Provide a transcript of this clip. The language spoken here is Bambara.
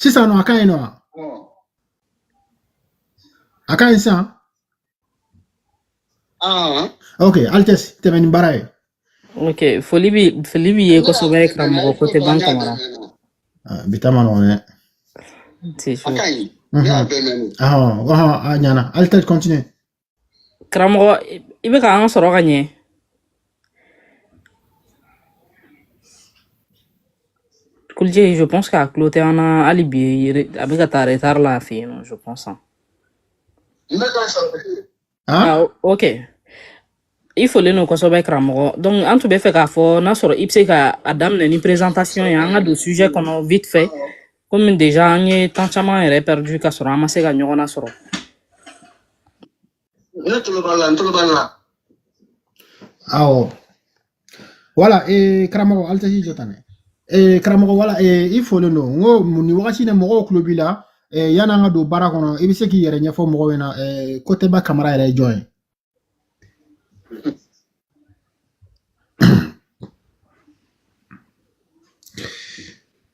sisan nɔ a ka ɲi nɔ wa a ka ɲi sisan ok Altesse tɛmɛ ni baara ye ok foli b'i foli b'i ye kosɛbɛ karamɔgɔ Kotɛba Kamara bi ta man nɔgɔn dɛ a ɲana Altesse continue karamɔgɔ i bɛ k'an sɔrɔ ka ɲɛ kulije je pense k'a tulo tɛ an na hali bi re- a bɛ ka taa retard la a fɛ yen nɔ je pense hein. Ne ka sɔrɔ bɛ yen. Han? ah o- ok i folen don kosɛbɛ karamɔgɔ donc an tun bɛ fɛ k'a fɔ n'a sɔrɔ i bɛ se ka a daminɛ ni présentation ye an ka don sujet kɔnɔ vite fait komi déjà an ye temps caman yɛrɛ perdu ka sɔrɔ an ma se ka ɲɔgɔn na sɔrɔ ne tulo b'a la n tulo b'a la awɔ voilà ee karamɔgɔ Altesse jɔ tan dɛ ee karamɔgɔ voilà ee i folen don komi nin wagati in na mɔgɔw tulo b'i la ee yan'an ka don baara kɔnɔ i bɛ se k'i yɛrɛ ɲɛfɔ mɔgɔw ɲɛna ee Kotɛba Kamara yɛrɛ ye jɔn ye